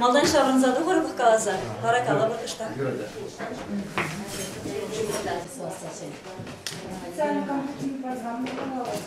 Малтан ҫаврӑнса тухӑр-пӑх каласа, вара калӑпӑр ӑҫта. Сана компьютер программа калалась.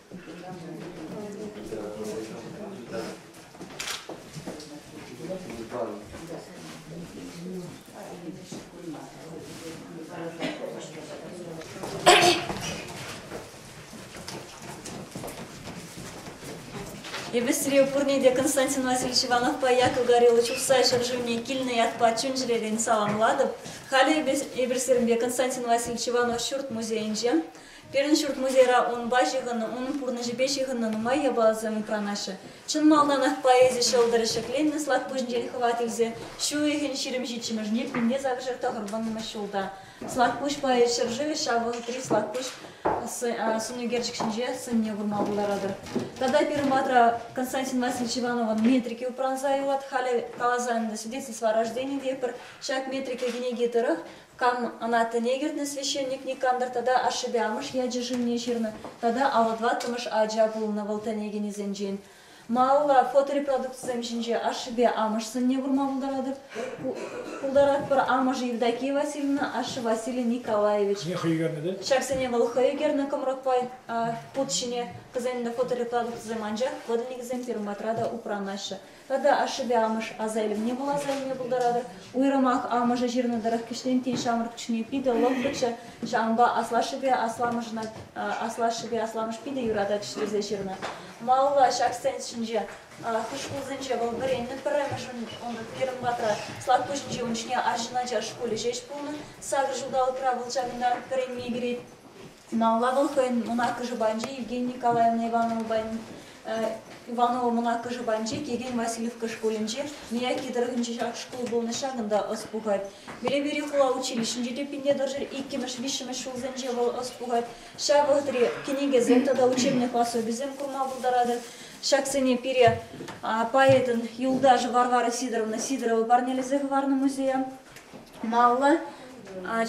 Эпӗсре пурне те Константин Васильевич Ивановпа Яков Гориллович Ухсай ҫӗршывне килнӗ ятпа чун-чӗререн саламлатӑп. Халӗ эпӗ эпӗсемпе Константин Васильевич Иванов ҫурт музейӗнче Пирӗн ҫурт-музейра унпа ҫыхӑннӑ, унӑн пурнӑҫӗпе ҫыхӑннӑ нумай япаласем упранаҫҫӗ. Чӑн малтанах поэзи ҫӑлтӑрӗ ҫӗкленнӗ Слакпуҫӗнчен хӑват илсе ҫу уйӑхӗн ҫирӗм ҫиччӗмӗшне пӳлне сакӑрҫӗр тӑхӑрвӑннӑмӗш ҫулта Слакпуҫ поэт ҫӗршывӗ ҫав вӑхӑтри Слакпуҫ сӑнӳкерчӗк ҫинче сӑнне курма пултаратӑр. Тата пирӗн патра Константин Васильевич Ивановӑн метрики упранса юлать. Халӗ каласа ӗнтӗ, Свидетельство о рождении те пӗр ҫак метрика кӗнеки тӑрӑх Кам ӑна тӗне кӗртнӗ священник никамтӑр тата ашшӗпе амӑш ячӗ-шывне ҫырнӑ тата аллӑ тӑваттӑмӗш ача пулнӑ вӑл тӗне кӗнисенчен. Малалла фоторепродукцисем ҫинче ашшӗпе амӑш сӑнне курма пултаратпӑр. Амӑшӗ Евдокия Васильевна, ашшӗ Василий Николаевич. Хӑй ӳкернӗ те? Ҫаксене вӑл хӑй ӳкернӗ кӑмрӑкпа пут ҫине. Кӑсем те фоторепродукцисем, анчах подвигӗсем пирӗн патра та упранаҫҫӗ. Тата ашшӗпе амӑш аса илӗвне вуласа илме пултаратӑр. Уйрӑмах амӑшӗ ҫырнӑ тӑрӑх кӗҫнеренкки ҫамрӑк чухне питӗ лӑпкӑччӗ, ҫавӑнпа аслашшӗпе асламӑшна аслашшӗпе асламӑш питӗ юрататчӗ тесе ҫырнӑ. Малалла ҫак сцена ҫинче хӑш шкулсенче вӑл вӗреннӗ пӗрремӗшӗн, унта пирӗн патра, Слакпуҫӗнче унчне арҫын ача шкулӗ ҫеҫ пулнӑ. Сакӑр ҫулталӑкра вӑл ҫакӑнта вӗренме кӗрет. Финалла вӑл хӑйӗн мӑнаккӑшӗ панчи Евгения Николаевна Ивановӑпан Иванова мӑнаккӑшӗ панчи Кирилл Васильевка шкулӗнче Мияки тӑрӑхӗнче ҫак шкул пурнӑҫ ҫакӑнта ӑс пухать. Пелепейри хула училищинче те пинне тӑршшӗ иккӗмӗш-виҫҫӗмӗш ҫулсенче вӑл ӑс пухать. Ҫав вӑхӑтри кӗнекесем тата учебник пособисем курма пултаратӑр. Ҫаксене пире поэтӑн юлташӗ Варвара Сидоровна Сидорова парнелесе хӑварнӑ музея. Маллӑ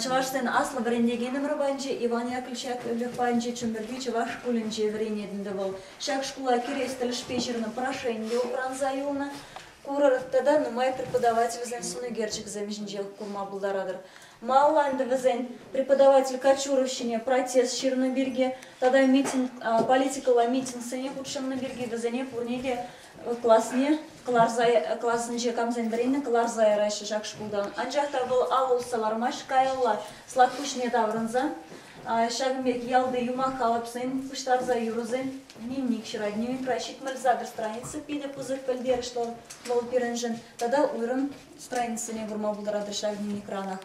чӑвашсен аслӑ вӗрентекенӗм панчӗ, Иван Яковлевич Яковлев панчи Чӗмпӗрти чӑваш шкулӗнче вӗренет ӗнтӗ вӑл. Ҫак шкула кӗрес тӗлӗшпе ҫырнӑ прошение упранса юлнӑ. Курӑр тата нумай преподавательсен сӑнӳкерчӗкӗсем ҫинчех курма пултаратӑр. Малла ӗнтӗ вӗсен преподаватель Кочуров ҫине протест ҫырнӑ пирки тата митинг, политикӑлла митингсене хутшӑннӑ пирки вӗсене пурне те класне кӑларса класӗнче камсен пӗринӗ кӑларса яраҫҫӗ ҫак шкултан. Анчах та вӑл ал усса лармасть каялла слак пуҫне таврӑнса. Ҫакӑн пирки ялти юмах калӑпсен пуҫтарса юрӑсен дневник ҫырать. Дневник праҫник мальзагр страница питӗ пысӑк пӗлтерӗшлӗ вӑл пирӗншӗн. Тата уйрӑм страницӑсене курма пултаратӑр ҫак дневникранах.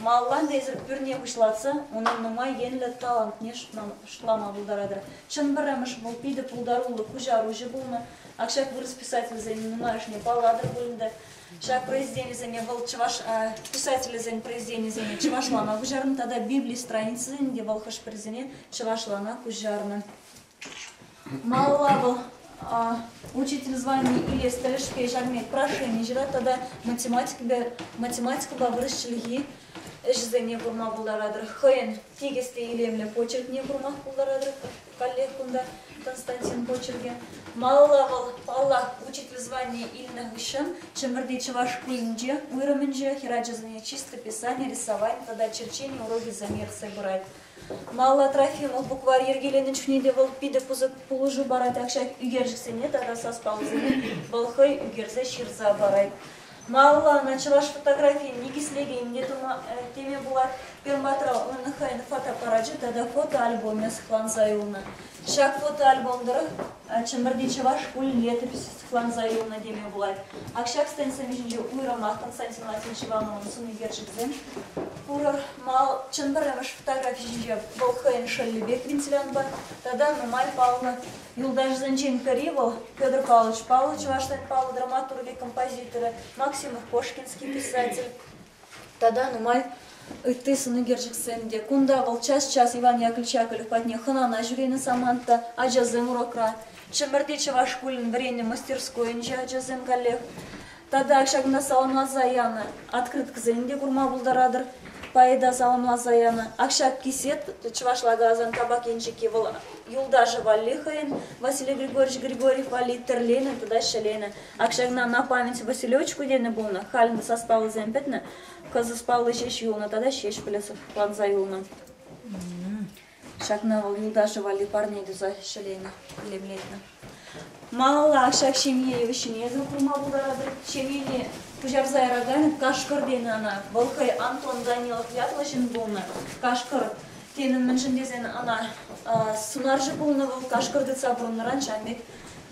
Маллан эсир пӳрне пуҫлатса унӑн нумай енлӗ талантне шутлама пултаратӑр. Чӑн пӗрремӗш вӑл питӗ пултаруллӑ куҫаруҫӑ пулнӑ. Ак ҫак вырӑс писателӗсен нумайӑшне паллатӑр пуль ӗнтӗ. Ҫак произведенисене вӑл чӑваш писателӗсен произведенисене чӑвашлана куҫарнӑ тата Библи страницисене те вӑл хӑш-пӗрисене чӑвашлана куҫарнӑ. Малалла вӑл учитель звани илес тӗлӗшпе ҫакна прошени ҫырать тата математикӑпа, математикӑпа вырӑс чӗлхи ӗҫӗсене курма пултаратӑр. Хӑйӗн тикӗс те илемлӗ почеркне курма пултаратӑр каллех кунта Константин почеркӗ. Малалла вӑл, паллах, учитель звание илнӗ хыҫҫӑн Чӗмпӗрти чӑваш шкулӗнче уйрӑмӗнче хӗр ачасене чисто писани, рисовани тата черчени урокӗсем ертсе пырать. Малла Трофимов букварь йӗркеленӗ чухне те вӑл питӗ пысӑк пулӑшу парать, ак ҫак ӳкерчӗксене тата саспаллисене вӑл хӑй ӳкерсе ҫырса парать. Малла ӑна чӑваш фотографийӗн никӗслекенне тума теме пулать. Перматра унӑн хӑйӗн фотоаппарачӗ тата фотоальбомӗ сыхланса юлнӑ. Ҫак фотоальбом тӑрӑх Чӗмпӗрти чӑваш шкулӗн летописӗ Сыхланса юлнӑ теме пулать. Ак ҫак стендсем ҫинче уйрӑмах Константин Латин ҫӑвамӑмӑн сунекерчӗксем пурӑр. Мал, чӑн пӗрремӗш фотографи ҫинче вӑл хӑйӗн шӑллӗ пек вентилянпа тата нумай паллӑ. Юлташӗсенчен пӗри вӑл, Петр Павлович. Паллӑ чӑваш тен, паллӑ драматургӗ, композиторӗ, Максимов-Кошкинский писатель. Тата нумай ытти сӑнӳкерчӗксем те. Кунта вӑл час-час Иван Яковлевич Яковлев патне хӑнана ҫӳренӗ самант та, ачасем урокра. Чӗмӗрти чӑваш шкулӗн вӗреннӗ мастерскойӗнче ачасем каллех. Тата ҫакӑнта саламласа янӑ открыткӑсем те курма пултаратӑр. Поэта саламласа янӑ. Акҫаккисет чӑвашла каласан табак енчӗкки вӑл юлташӗ валли хӑйӗн. Василий Григорьевич Григорьев валли тӗрленӗ тата ҫӗленӗ. Ак ҫакна на память Василевичку тенӗ пулнӑ, халӗ сас паллисем пӗтнӗ, кӑсӑс палли ҫеҫ юлнӑ тата Ҫеҫпӗле сыхланса юлнӑ. Ҫакна вӑл юлташӗ валли парне туса ҫӗленӗ, илемлетнӗ. Малалла ҫак ҫемье йывӑҫҫине те курма пултаратӑр. Ҫемьене пуҫарса яраканӗ Кашкӑр тенӗ ӑна. Вӑл хӑй Антон Данилов ятлӑ ҫын пулнӑ. Кашкӑр тенӗ мӗншӗн тесен ӑна сунарҫӑ пулнӑ вӑл. Кашкӑр тытса пурӑннӑран ҫав пек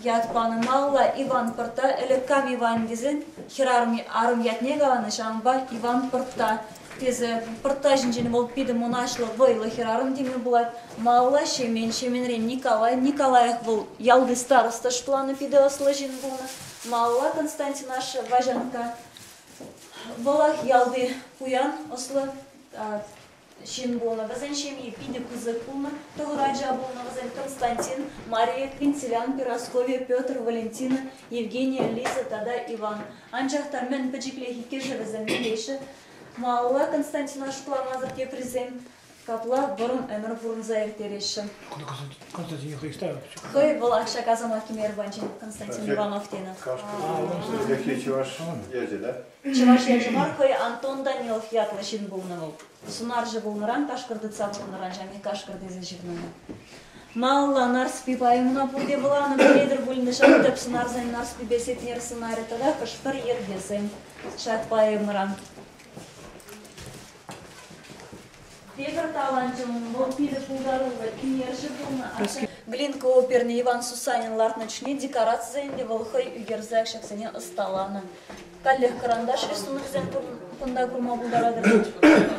Ят панӑ малалла Иван Пӑртта ӗлӗк кам Иван тесен хӗрарӑм арӑм ятне каланӑ, ҫавӑнпа Иван Пӑртта тесе. Пӑртта ҫинчен вӑл питӗ мӑнаҫлӑ, вӑйлӑ хӗрарӑм теме пулать. Малалла Ҫемен, Ҫеменрен Николай, Николаях вӑл ялти староста шӑпланнӑ питӗ ӑслӑ ҫын пулнӑ. Малалла Константин ашшӗ Ваҫанкка, вӑлах ялти пуян ӑслӑ Ҫын пулнӑ вӗсен ҫемйи питӗ пысӑк пулнӑ. Тӑхӑр ача пулнӑ вӗсем, Константин, Мария Квинтилиан, Перасковья, Петр, Валентина, Евгения, Лиза тата Иван. Анчах та мӗн пӗчӗклех иккӗшӗ вӗсем мӗнле-ши? Малалла Константина шутламасӑр теприсем капла вӑрӑм ӗмӗр пурӑнса ирттереҫҫӗ. Константин хӑй ставкӑччӗ. Хӑй вӑл акҫа-касӑма кӗмерӗ панччен Константин Иванов тенӗ. Кашкӑр ячӗ чӑваш ячӗ, да? Чӑваш Еншӗн. Хӑй Антон Данилов ятлӑ ҫын пулнӑ вӑл. Сунарҫӑ пулнӑран кашкӑр тытса пурӑннӑран ҫамки кашкӑр тесе ҫырнӑ. Малалла Нарспи поэмӑна пурте вуланӑ пӗлетӗр пулнӑ ҫав тӗп сунарсен Нарспипе Сетнер сӑнарӗ тата хӑш-пӗр йӗркесем ҫак поэмӑран. Тепӗр таланчӑм вӑл питӗ пултаруллӑ ӳнерҫӗ пулнӑ. Глинка оперне Иван Сусанин лартнӑ чухне декорацисем те вӑл хӑй ӳкерсе ҫаксене ӑсталанӑ. Каллех кӑранташ-ши сунарсем кунта курма пултаратӑр вӗт?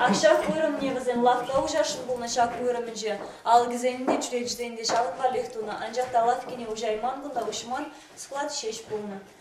Ак ҫак вырӑнне вӗсем лавкка уҫасшӑн пулнӑ ҫак вырӑнӗнче. Алӑкӗсен те, чӳречисен те ҫавӑн валлех тунӑ, анчах та лавккине уҫайман кунта уҫман склад ҫеҫ пулнӑ.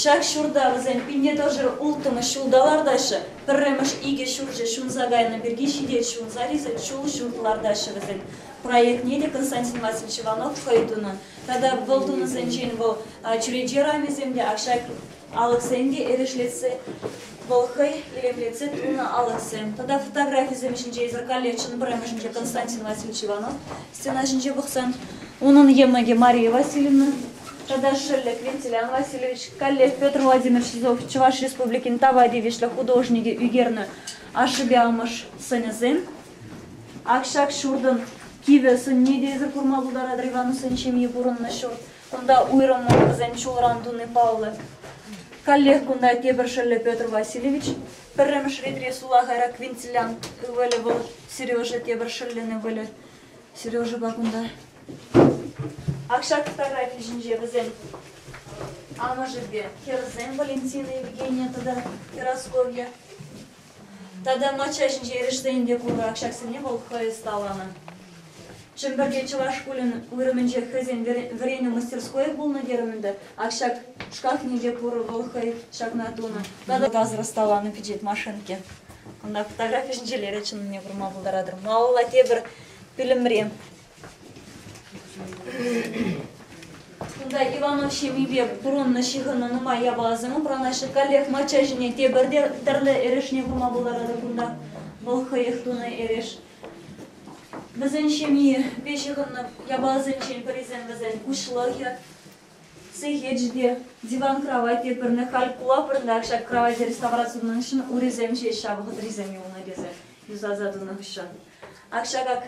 Ҫак ҫурта вӗсен пинне-тӑшӑ улттӑмӗш ҫулта лартаҫҫӗ, пӗрремӗш икӗ ҫурчӗ ҫунса кайнӑ пирки ҫитет, ҫунса рисӗк ҫул ҫум кӑлартаҫҫӗ вӗсен. Проектне те Константин Васильевич Иванов хӑй тунӑ тата вӑл тунӑсенчен вӑл чӳрече рамисем те, ак ҫак алӑксем те эрешлетсе, вӑл хӑй илемлетсе тунӑ алӑксем тата фотографисем ҫинче, исӗр каллеччӗн пӗрремӗшӗнче Константин Васильевич Иванов Стена ҫинче пӑхсан, унӑн йӑмӑкӗ Мария Васильевна тата шӑллӗк Вентилян Васильевич, каллех Петр Владимирович Сизов Чӑваш Республикин тава тивӗҫлӗ художникӗ ӳкернӗ ашшӗпе амӑш сӑнӗсем. Ак ҫак ҫуртӑн кивӗ сӑнне те эсир курма пултаратӑр, Ивановсен ҫемйи пурӑннӑ ҫурт. Кунта уйрӑммӑн вӗсем ҫулран туни паллӑ. Каллех кунта тепӗр шӑллӗ Петр Васильевич, Пӗрремӗш ретре сулахайра квинтилян ывӑлӗ вӑл Сережа тепӗр шӑллӗн ывӑлӗ. Сережӑпа кунта. Ак ҫак фотографи ҫинче вӗсен амӑшӗпе хӗрсем Валентина Евгения тата Красковья. Тата мачча ҫинче эрешсен те пур. Ак ҫаксене вӑл хӑй ӑсталанӑ. Чӗмпӗрте чӑваш шкулӗн уйрӑмӗнче хӑйсен вӗренӳ мастерскойӗ пулнӑ терӗм ӗнтӗ. Ак ҫак шкафне те пур, вӑл хӑй ҫакна тунӑ. Тата газра ӑсталанӑ пичет машинки. Кунта фотографи ҫинчелле чӑннине курма пултаратӑр. Малалла тепӗр пӳлӗмре. Кунта Иванов ҫемйипе пурӑннӑ ҫыхӑннӑ нумай япаласем упранаҫҫӗ. Каллех мачча ҫине тепӗр те тӗрлӗ эрешне курма пултаратӑр кунта. Вӑл хӑех тунӑ эреш. Вӗсен ҫемйипе ҫыхӑннӑ япаласенчен пӗрисем вӗсен куҫлӑхӗ, сехечӗ те, диван-краватье пӗрне, калькула пӗрне, ҫак краватье реставраци тунӑшӑн урисем ҫеҫ ҫав вӑхӑтрисем юлнӑ тесе юсаса тунӑ хыҫҫӑн. Ак ҫаках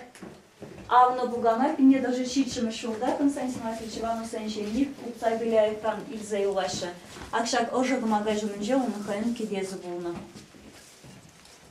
авнӑ пукана пине даже ҫиччӗмӗш ҫулта Константин Васильевич Ивановсен ҫемйи утса Беляевтан илсе юлаҫҫӗ. Ак ҫак ӑшӑ кӑмака ҫумӗнче унӑн хӑйӗн кӗтесӗ пулнӑ.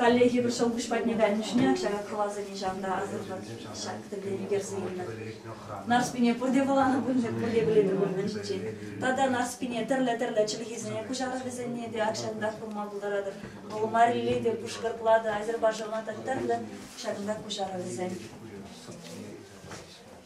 Коллеги пӗр ҫӑлкуҫ патне кайнӑшне ҫара кӑларса нихҫан та асӑрхать ҫак тӗллев ерсейлӗ. Нарспине пурте кӑланӑ пулчӗ, пурте пӗлетӗр пулманччен. Тата Нарспине тӗрлӗ-тӗрлӗ чӗлхесене куҫарас тесенне те акҫантах пулма пултаратӑр. Вӑл Марире те, Пушкӑртла та, Азербайджанла та тӗрлӗ ҫакӑнта куҫарӑвӗсем.